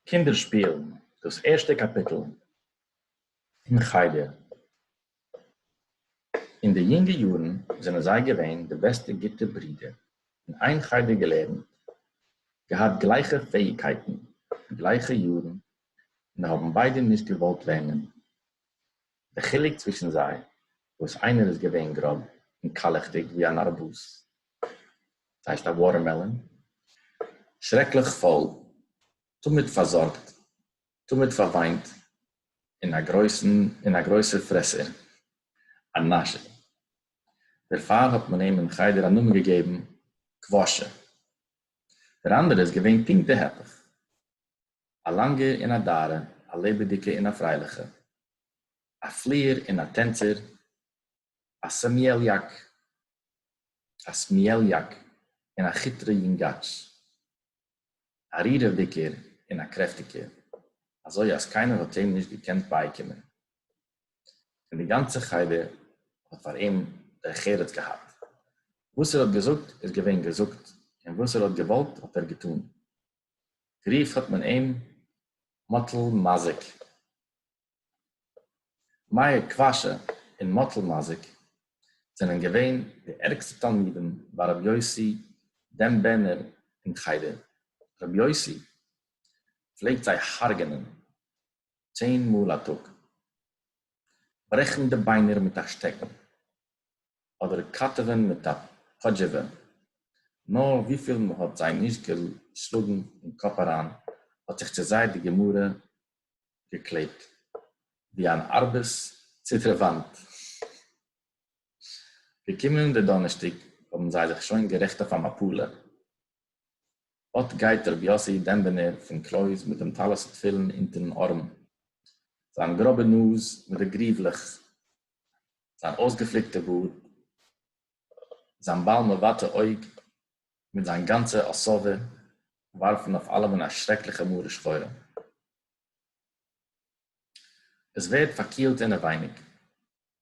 קינדער שפילן, דאס ערשטע קאפיטל אין חדר. אין די יונגע יארן זענען זיי געווען די בעסטע גוטע ברידער, אין איין חדר געלערנט, געהאט גלייכע פעאיגקייטן, גלייכע יארן, און האבן ביידע נישט געוואלט לערנען. די חילוק צווישן זיי, וואס איינער איז געווען גראב און קאלעכדיג ווי אן ארבוז, דאס הייסט א וואטערמעלאן, שרעקליך פויל, תמיד פארזארגט, תמיד פארוויינט, און א גרויסן און א גרויסער פרעסער, א נאשער. דערפאר האט מען אים אין חדר א נאמען געגעבן קוואשער. דער אנדערע איז געווען פונקט די הפך. אַ לאַנגע און אַ דאַרע, אַ לעבעדיקע און אַ פֿריילעכע, אַ פֿליִער און אַ טענצער, אַ סעמיעליאַק, אַ סמיעליאַק און אַ כיטרע יונגאַטש, אַ רירעוודיקער און אַ קרעפֿטיקער, אַזוי אַז קיינער האָט אים נישט געקענט בײַקומען. פֿון די גאַנצע חדר האָט פֿאַר אים דער חרץ געהאַט. וואָס ער האָט געזאָגט, איז געווען געזאָגט, און וואָס ער האָט געוואָלט, האָט ער געטאָן. גערופט האט מען אים מאטל מזיק. מאיר קוואשע און מאטל מזיק זענען געווען די ערגסטע תלמידים ביי רבי יוסי דעם בענער אין חדר, רבי יוסי פלעגט זיי הרג'נען צען מאל א טאג. ברעכן די ביינער מיט א שטעקן, אדער קאטעווען מיט א פאדזשעווע, נא וויפיל מען האט זיי נישט געשלאגן אין קאפ אריין, האט זיך צו זיי די גמרא געקלעבט ווי אן ארבעס צו דער וואנט. געקומען די דאנערשטאג האבן זיי זיך שוין גערעכט אויף א מפלה, אָט גייט ר' יאָסי דעמבענער פֿון קלויז מיט דעם טלית און תּפֿילין אונטערן אָרעם, זײַן גראָבע נאָז מיט די גריװלעך, זײַן אויסגעפֿליקטע באָרד, זײַן בעל-מבטע אויג, מיט זײַן גאַנצע אָסאָבע, װאַרפֿן אויף אַלעמען אַ שרעקלעכע מרה-שחורה. עס ווערט פארקילט אינעווייניג.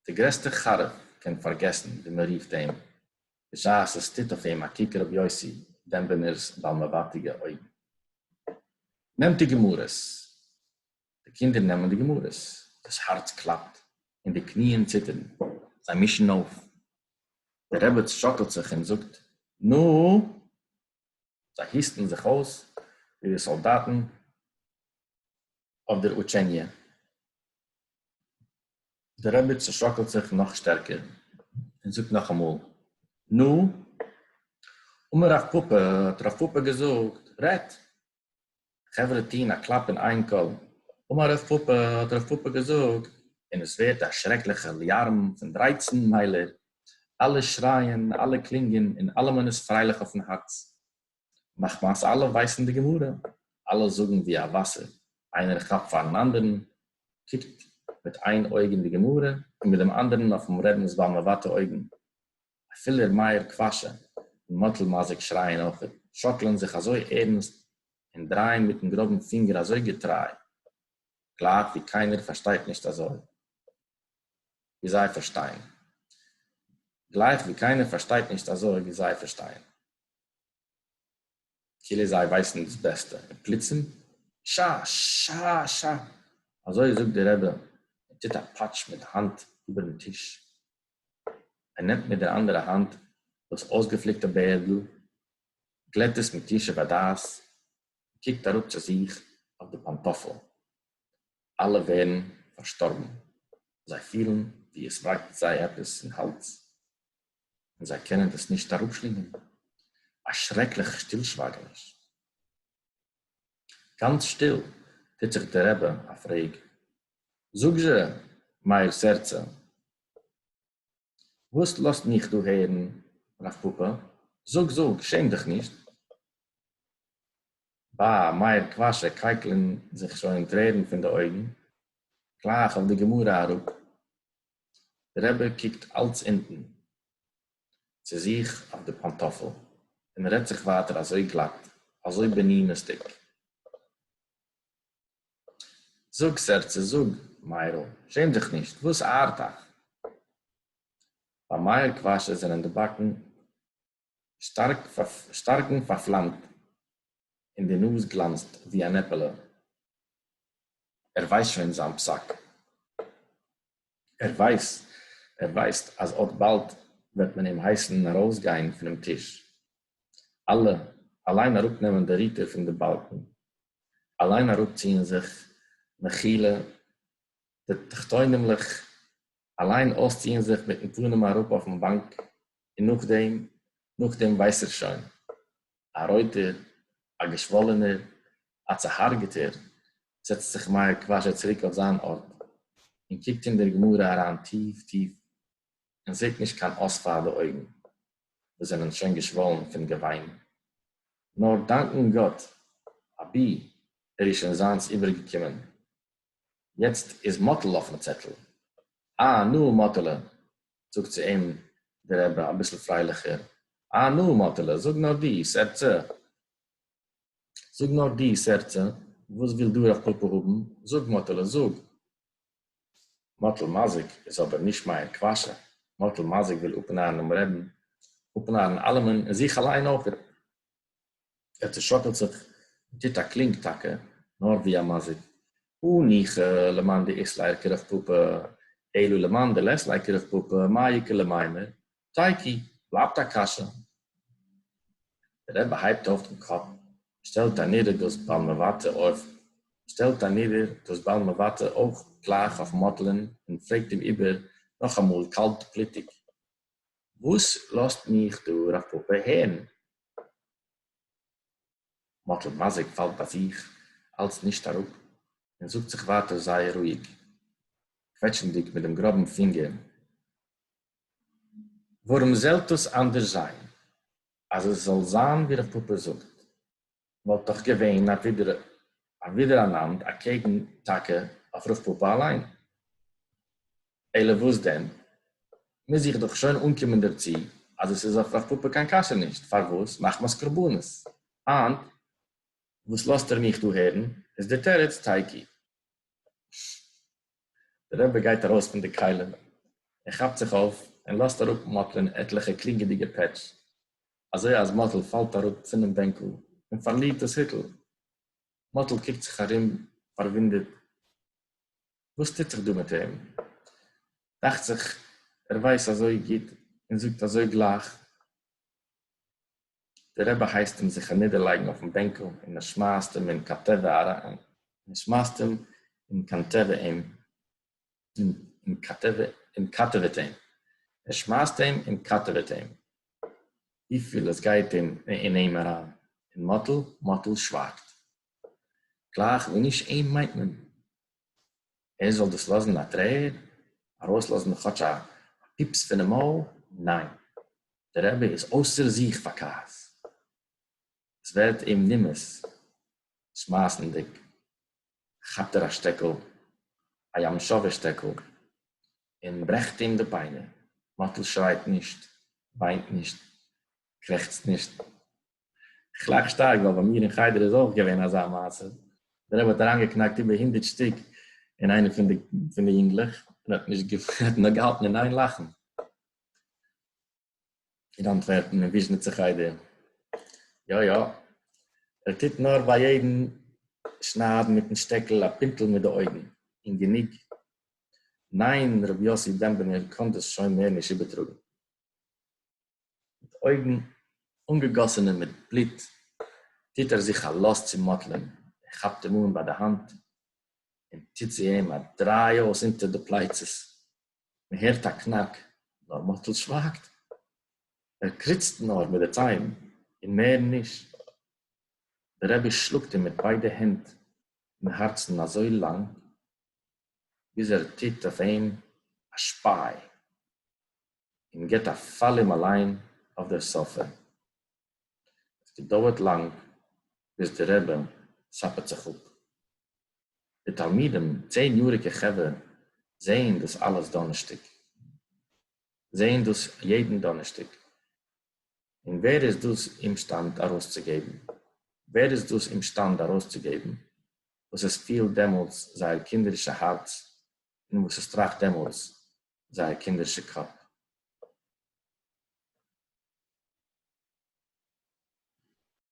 דער גרעסטער חרוב קען פארגעסן ווי מען רופט אים, בשעת עס טוט אויף אים א קוק רבי יוסי דעמבינער'ס באלמעוואטיגע אויגן. נעמט די גמרות. די קינדער נעמען די גמרות. דאס הארץ קלאפט און די קניען ציטערן. זיי מישן אויף. דער רעבעץ שאקלט זיך און זאגט, נו! זיי היסטן זיך אויס ווי די סאלדאטן אויף דער אוטשעניע. דער רבי צעשאקלט זיך נאך שטערקער און זאגט נאכאמאל, נו, אמר רב פּפּא, האט רב פּפּא געזאגט, רעדט! חברה טוהן א קלאפ אין איין קול, אמר הרב פאפא האט הרב פאפא געזאגט, און עס ווערט א שרעקליכע אליארם פון דרייצן מיילער, אלע שרייען, אלע קלינגען, און אלעמען איז פרייליך אויפן הארץ, מחמת אלע ווייסן די גמרא, אלע זאגן ווי א וואסער, איינער כאפט פארן אנדערן, קוקט מיט איין אויג אין די גמרא, און מיט דעם אנדערן אויפן רעבינ'ס בעל מבטא אויגן. אפילו ר' מאיר קוואשע און מאטל מאזיק שרייען אויכעט, שאקלען זיך אזוי ערנסט און דרייען מיטן גראבן פינגער אזוי געטריי, גלייך ווי קיינער פארשטייט נישט אזוי ווי זיי פארשטייען. גלייך ווי קיינער פארשטייט נישט אזוי ווי זיי פארשטייען. כאילו זיי ווייסן דאס בעסטע. און פלוצים, שאַ! שאַ! שאַ! אזוי זאגט דער רבי און טוט א פאטש מיט די האנט איבערן טיש. ער נעמט מיט דער אַנדערער האַנט דאָס אױסגעפֿליקטע בערדל, גלעט עס מיט ישוב-הדעת און קוקט אַראָפּ צו זיך אױף די פּאַנטאָפֿלען. אַלע װערן פֿאַרשטאָרבן. זײ פֿילן, װי עס װאַקט זײ עפּעס אין האַלדז, און זײ קענען דאָס נישט אַראָפּשלינגען. אַ שרעקלעכע שטילשװײַגעניש. גאַנץ שטיל טוט זיך דער רבי אַ פֿרעג, זאָג-זשע, מאיר סערצע, וואס לאזט מיך דא הערן רב פאפא, זאג זאג, שעם דיך נישט. בא מאיר קוואשע קייקלען זיך שוין טרערן פון די אויגן, גלייך אויף די גמרא אראפ, די רבי קוקט אלץ אונטן צו זיך אויף די פאנטאפל און רעדט זיך ווייטער אזוי גלאט, אזוי בעניניסטיג. זאָג, סערצע, זאָג, מאירל, שעם דיך נישט, װאָס אַרט אײַך? בײַ מאיר קװאַשע זענען די באַקן שטאַרק, שטאַרקן פֿאַרפֿלאַמט און די נאָז גלאַנצט, װי אַן עפּעלע. ער װײס שױן זײַן פּסק. ער װײס, ער װײסט, אַז אָט באַלד װעט מען אים הײסן אַרױסגײן פֿונעם טיש. אַלע, אַלײן אַראָפּנעמען די ריטער פֿון די באַלקן, אליין אראפציען זיך מחילה די תחתונים'לעך, אליין אויסציען זיך מיטן פנים אראפ אויפן באנק, און נאכדעם, נאכדעם ווייס ער שוין, א רויטער, א געשוואלענער, א צוהארגעטער, זעצט זיך מאיר קוואשער צוריק אויף זיין ארט, און קוקט אין דער גמרא אריין טיף טיף, און זעט נישט קיין אָס פֿאַר די אויגן, וואָס זענען שוין געשוואָלן פֿון געוויין, נאָר דאַנקען גאָט, אַבי ער איז שוין זײַנס איבערגעקומען. יעצט איז מאָטל אויפֿן צעטל. אַ, נו, מאָטעלע, זאָגט צו אים דער רבי אַ ביסל פֿריילעכער, אַ, נו, מאָטעלע, זאָג נאָר דו, סערצע, זאָג נאָר דו, סערצע, וואָס וויל דו רב-פּאַפּאַ האָבן? זאָג, מאָטעלע, זאָג! מאטל מאזיק איז אבער נישט מייער קוואשע, מאטל מאזיק וויל אפנארן דעם רעבין, אפנארן אלעמען און זיך אליין אויך, ער צושאקלט זיך און טוט א קלינג טאקע נאר ווי א מאזיק, או ניחא למאן דאיסלער קרח פאפא, אילו למאן דלעסלער קרח פאפא, מה יקל למימר, טייקי, בלייבט א קשיא. דער רבי הייבט אויף דעם קאפ, שטעלט אנידער דאס בעל מבטא אויף, שטעלט אנידער דאס בעל מבטא אויך גלייך אויף מאטלען און פרעגט אים איבער נאכאמאל קאלט בלוטיג, וואס לאזט מיך דער רב פאפא הערן? מאטל מאזיק פאלט ביי זיך אלץ נישט אראפ און זאגט זיך ווייטער זייער רואיג, קוועטשנדיג מיט דעם גראבן פינגער. ווארום זאל עס אנדערש זיין, אז עס זאל זיין ווי רב פפא זאגט, וואלט דאך געווען א ווידעראנאנד אקעגן טאקע אויף רב פפא אליין. אלא וואס דען, מוז איך דאך שוין אנקומען דערצו אז עס איז אויף רב פפא קיין קשיא נישט, פארוואס מחמת קרבנות היינט וואס לאזט ער מיך דא הערן איז דער תירוץ תייקי. דער רבי גייט ארויס פון די כלים און כאפט זיך אויף און לאזט אראפ מאטל'ען עטליכע קלינגעדיגע פעטש אזוי אז מאטל פאלט אראפ פונעם בענקל און פארלירט דאס היטל. מאטל קוקט זיך ארום פארוואונדערט וואס טוט זיך דא מיט אים? דאכט זיך ער ווייסט אזוי גוט און זאגט אזוי גלייך. דער רבי הייסט אים זיך אנידערלייגן אויפן בענקל און ער שמייסט אים אין קאטעווע אריין, ער שמייסט אים אין קאנטעווע אים און קאטעווע און קאטעוועט אים, ער שמייסט אים און קאטעוועט אים, וויפיל עס גייט אים אין אים אריין, און מאטל מאטל שווייגט. גלייך ווי נישט אים מיינט מען. ער זאל דאס לאזן א טרער ארויסלאזן כאטש א פיפס פונעם מויל, ניין, דער רבי איז אויסער זיך פאר כעס, עס ווערט אים נימאס, שמייסנדיג כאפט ער א שטעקל, א ים שווה שטעקל, און ברעכט אים די ביינער, מאטל שרייט נישט, וויינט נישט, קרעכצט נישט, כ'לאך שטארק ווייל ביי מיר אין חדר איז אויך געווען אזא מעשה, דער רבי האט אריינגעקנאקט איבער הונדערט שטיק אין איינע פון די פון די יונגלעך און האט נישט האט נאר געהאלטן אין איין לאכן. אין אנטווערפן אין וויזשניצער חדר. יא יא. ער טוט נאר ביי יעדן שניידן מיטן שטעקל א פינטל מיט די אויגן און גענוג. ניין רבי יוסי דעמבענער קאן דאס שוין מער נישט איבערטראגן. מיט אויגן אָנגעגאָסענע מיט בלוט, טוט ער זיך אַ לאָז צו מאָטלען, ער כאַפּט אים אָן בײַ דער האַנט און טוט צו אים אַ דרײ אויס אונטער די פּלײצעס. מע הערט אַ קנאַק, נאָר מאָטל שװײַגט, ער קריצט נאָר מיט די צײן און מער נישט. דער רבי שלאָגט אים מיט בײדע הענט אין האַרצן אַזױ לאַנג, ביז ער טוט אױף אים אַ שפּײַ. און געט א פאל אים אליין אויף דער סאפע. עס געדויערט לאנג ביז דער רבי סאפעט זיך אפ. די תלמידים, צען יאריגע חברה, זעען דאס אלעס דאנערשטאג. זעען דאס יעדן דאנערשטאג. און ווער איז דאס אומשטאנד ארויסצוגעבן? ווער איז דאס אומשטאנד ארויסצוגעבן וואס עס פילט דעמאלס זייער קינדערישע הארץ און וואס עס טראכט דעמאלס זייער קינדערשע קאפ.